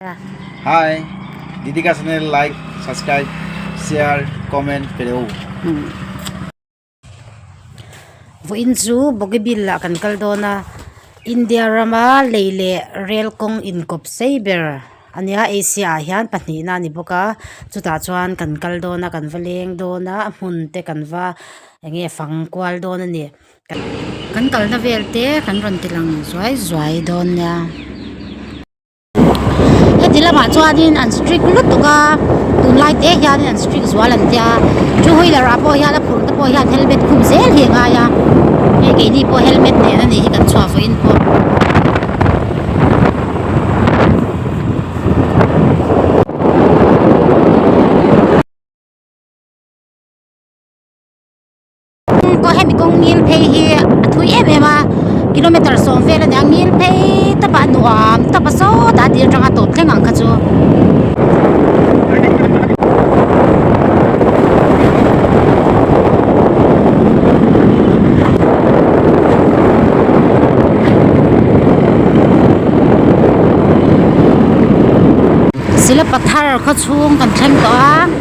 Hi Didika channel like subscribe share comment pe lo. Vawiin chu Bougainville ah kan kal dawn a, India rama lei leh rel kawng inkawp sei ber a nia, Asia ah hian pahnihna a ni bawk a, chutah chuan kan kal dawn a, kan va leng dawn a, a hmun te kan va eng nge fang kual dawn a ni. Kan kalna vel te kan rawn tilang zuai zuai dawn nia. Heti lamah chuanin an strict lutuk a, tunlai te hianin an strict zual an tia, two wheeler ah pawh hian a phur te pawh hian helmet khum zel hi a ngai a, hei keini pawh helmet nen a nih hi kan chhuah vawiin pawh. Khum pawh hemi kawng ngil phei hi a thui em em a kilometer sawm vel a nia ngil phei tap a nuam tap a sawt a tih atanga tawp thleng ang kha chu Silapatthar khawchhung kan thleng tawh a.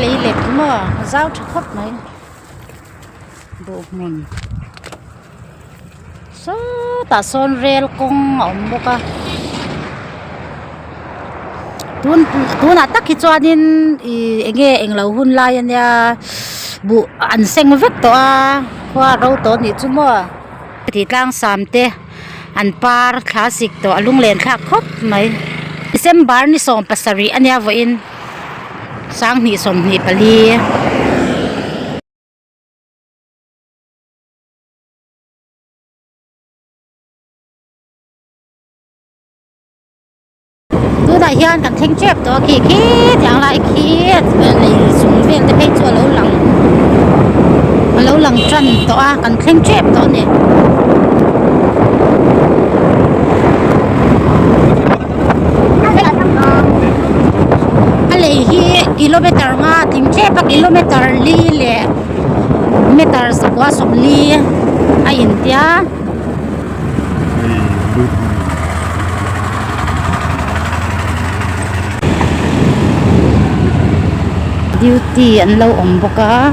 lei leh tum a zau tha khawp mai duh hmun sawtah sawn rel kawng a awm bawk a. tun tunah tak hi chuanin ih eng nge englo hun lai a nia buh an seng vek tawh a khua ro tawh a nih chu maw tih tlang sam te an par thla sik tawh a lung len thlak khawp mai december ni sawm pasarih a nia vawiin sanghnih sawmhnih pali. tunah hian kan thleng tep tawh a khi khi tiang lai khi a lei chung vel te phei chu a lo lang a lo lang tan tawh a kan thleng tep tawh a ni a lei hi kilometer nga tim tep a kilometer li leh meter sakua sawm li a intia. Duty an lo awm bawk a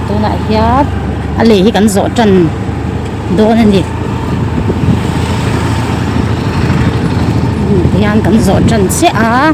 tunah hian a lei hi kan zawh tan dawn a ni hemi hian kan zawh tan chiah a.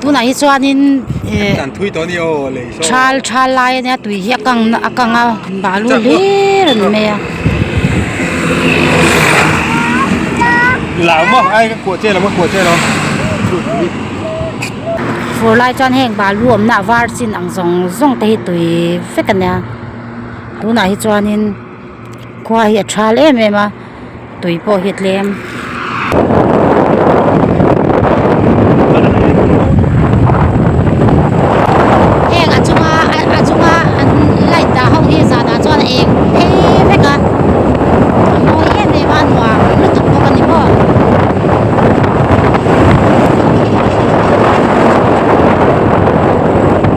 tunah hi chuanin eh thal thal lai a nia tui hi a kang a kang a balu hlir a ni mai fur lai chuan heng balu awmna a var chin ang zawng zawng te hi tui vek a nia tunah hi chuanin. Khua hi a thal em em a tui pawh hi a tlem heng a chunga a chunga an light dah ho hi zanah chuan a eng phei vek a a mawi em em a a nuam lutuk bawk a ni maw --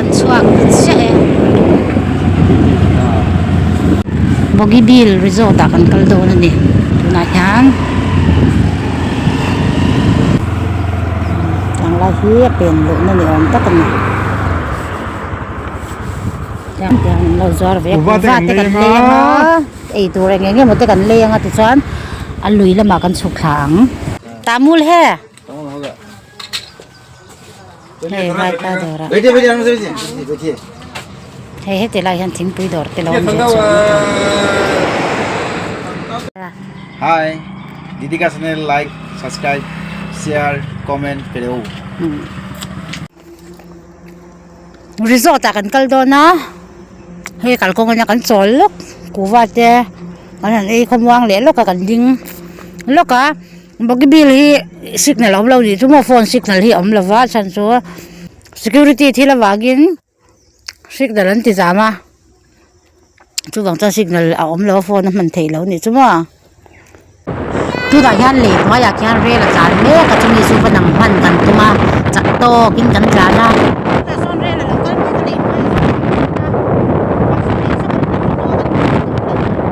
Ka chhuak vut siah e. Bogibeel resort ah kan kal dawn a ni. Tunah hian tiang lai hi a pen luhna ni awm tak a ni. Tiang te an lo zuar ve a. Kuhva te kan leng a. Ei tur eng eng emaw te kan leng a tichuan a lui lamah kan chhuk thla ang. Tamul he. hei vai kha dawra hei heti lai hian thingpui dawr te lo awm ve chuang a hi didika channel like subscribe share comment pe lo resort ah kan kal dawn a hei kalkawng in a kan chawl lawk kuhva te an han ei khawm vang leh lawk a kan ding lawk a. Bougainville hi signal a awm lo ni chu maw phone signal hi a awm lova chhan chu security thil a vangin signal an ti zam a chuvang chuan signal a awm lo a phone a hman theih lo ni chu maw tunah hian lei hnuaiah khian rail a tlan mek a chumi chu va nang hman kan tum a chak tawkin kan tlan a tunah sawn rail a lo kal mek a lei hnuaiah sawn kan tum a.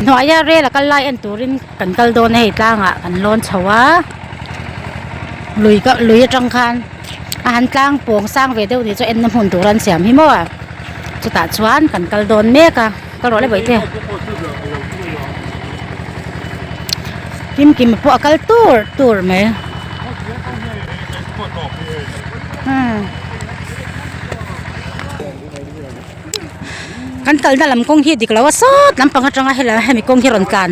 Hnuaia rel a kal lai en turin kan kal dawn a, hei tlangah kan lawn chho a, lui ka lui atang khan a han tlang pawng sang ve deuh ni chu enna hmun tur an siam hi maw a, chutah chuan kan kal dawn mek a, kal rawh le Bawihtei. Kimkima pawh a kal tur tur mai. kan kalna lam kawng hi dik loh a sawt lampang atanga hela hemi kawng hi rawn tlan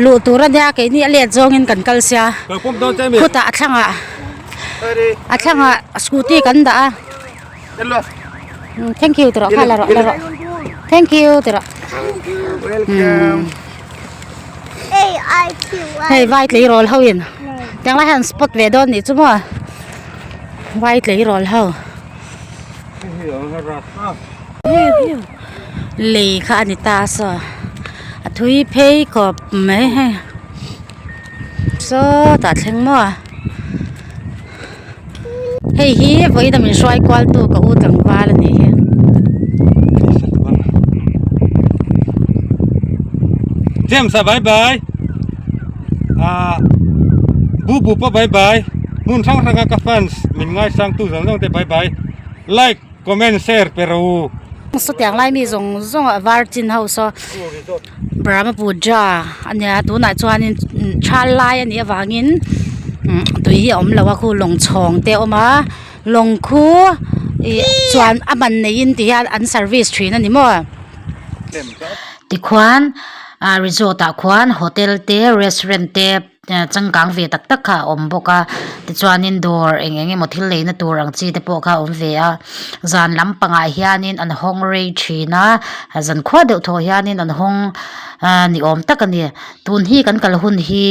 luh tur a nia keini a let zawngin kan kal sia khutah a thlangah a thlangah scooty kan dah a thank you tawrah kha la rawh la rawh thank you tawrah hei vai tlei rawl ho in tiang lai hian spot ve dawn nih chu maw vai tlei rawl ho. lei kha ani ta a saw a thui phei khawp mai he saw tah thleng maw a hei hi vawiin a min hruai kual tu ka u tlangval a ni hian. ah bu bu pawh bye bye hmun hrang hranga ka fans min ngaisang tu zawng zawng te bye bye like comment share pe ro u chutiang lai mi zawng zawng ah var chin ho so brahma puja a nia tunah chuan in chhal lai a nih avang in umm tui hi a awm lo a khu lawng chhawng te a awm a lawng khu ih chuan a man nei in ti hian an service thin a ni maw tikhuan-- Aa resort ah khuan hotel te restaurant te aa changkang ve tak tak kha a awm bawk a tichuanin dawr eng eng emaw thil neihna tur ang chi te pawh kha a awm ve a zan lam pangah hianin an hawng rei thin a a zan khuah deuh tawh hianin an hawng aa ni awm tak a ni tun hi kan kal hun hi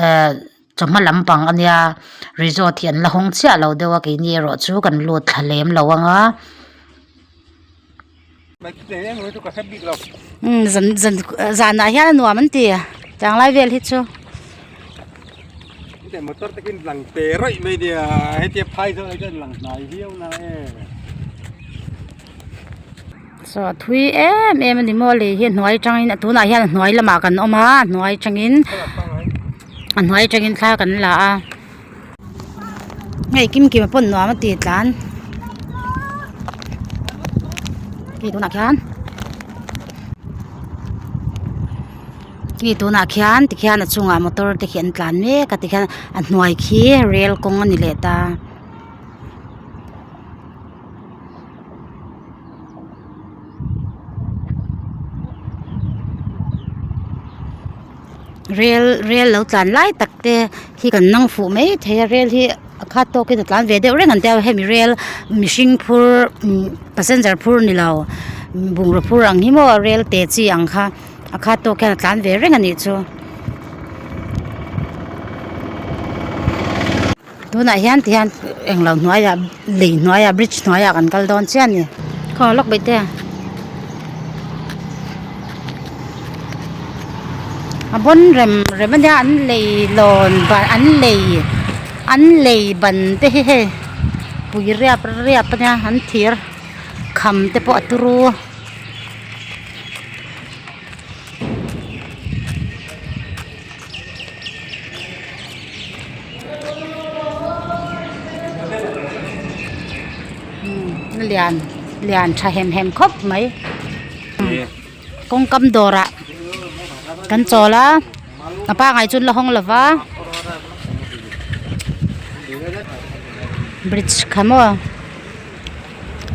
ehh-- Chawhma lampang a nia resort hi an la hawng chiah lo deuh a keini erawh chu kan lut thla lem lo ang a umm zan zan zanah hian a nuam an ti chang lai vel hi chu motor te khin tlang te raih mai nia hetia phai zawk ah chuan lang hnai viau na e so a thui em em a ni maw lei hi a hnuai atangin a tunah hian a hnuai lamah kan awm a a hnuai atangin. a hnuai atangin thla kan la a hei kim kima pawn nuam ati tlan hei tunah khian hei tunah khian tikhian a chungah motor te hi an tlan mek a tikhian a hnuai khi rel kawng a ni leh ta. rel rel lo tlan lai tak te khi kan nang fuh mai thei a rel hi a khat tawk in a tlan ve deuh reng an tia hemi rel mihring phur passenger phur ni lo bungraw phur ang hi maw rel te chi ang kha a khat tawk hian a tlan ve reng a nih chu. Tunah hian ti hian englo hnuaia lei hnuaia bridge hnuaia kan kal dawn chiah a ni. Khaw lawk beih te. A bawn rem rem a nia an lei lawn ban an lei an lei ban te hi hei pui riap riap a nia an thir kham te pawh a tur u. lian lian tha hem hem khawp mai kawngkam dawrah kan chawl a a pangai chu la hawng lo va bridge kha maw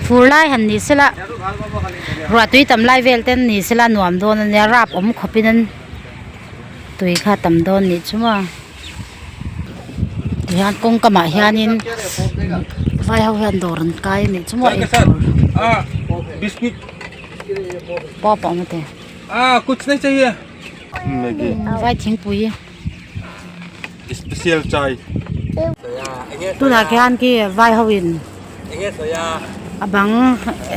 fur lai han ni se la ruah tui tam lai vel te an ni se la nuam dawn a nia rap awm khawp in an-- tui kha tam dawn nih chu a tihian kawngkam ah hianin vai ho hian dawr an kai a nih chu mual en tur pawh pawh mawtê vai thingpui tunah khian khi vai ho in a bang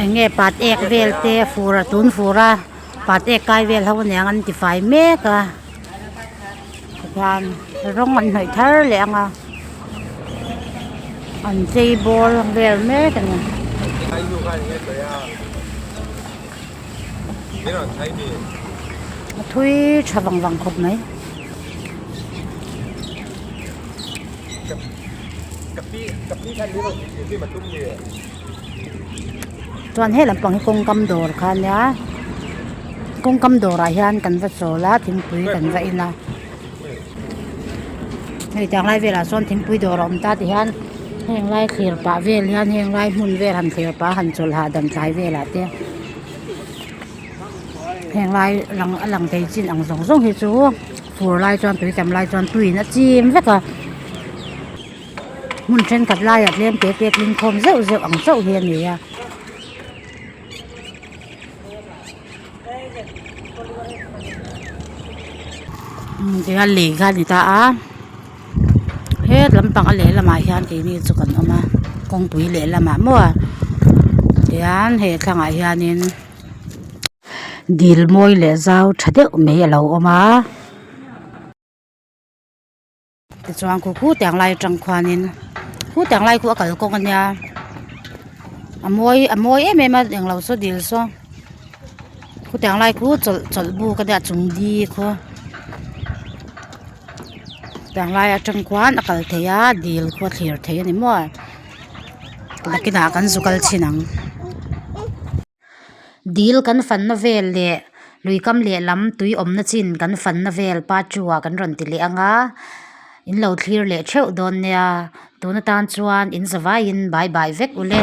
enge pat ek vel te a fur a tun fur a. Pat ek kai vel ho aniang an tifai mek a tichuan rawng an hnawih thar leh ang a an chei bawr vel mek a ni. A thui tha vang vang khawp mai. chuan he lam pang hi kawngkam dawr kha nia kawngkam dawrah hian kan va chawl a thingpui kan va in a hei chang lai velah sawn thingpui dawr a awm ta ti hian heng lai thlir pah vel hian heng lai hmun vel han thlir pah han chawl hah dan tlai velah te heng lai lang a lang thei chin ang zawng zawng hi chu fur lai chuan tui tam lai chuan tuiin a chim vek a. hmun thenkhat laiah tlemte pia tlingkhawm zeuh zeuh ang chauh hi a ni a. Tunga lei kha a ni ta a hetlampang a leh lamah hian keini chu kan awm a kawngpui leh lamah maw a tihian he thlangah hianin dil mawi leh zau tha deuh mai a lo awm a. Tichuan kut kut ang lai atang khuanin kut ang lai khuh a kal kawng a nia a mawi a mawi em em a englo saw dil saw kut ang lai khuh chawlh chawlh buk a nia a chung di khaw kut ang lai atang khuan a kal thei a dil khaw a thlir thei a ni maw nakin ah kan zu kal chin ang. Dil kan fanna vel leh lui kam leh lam tui awmna chin kan fanna vel part two ah kan rawn ti leh ang a in lo thlir leh theuh dawn nia tun atan chuan in zavaiin bye bye vek ule.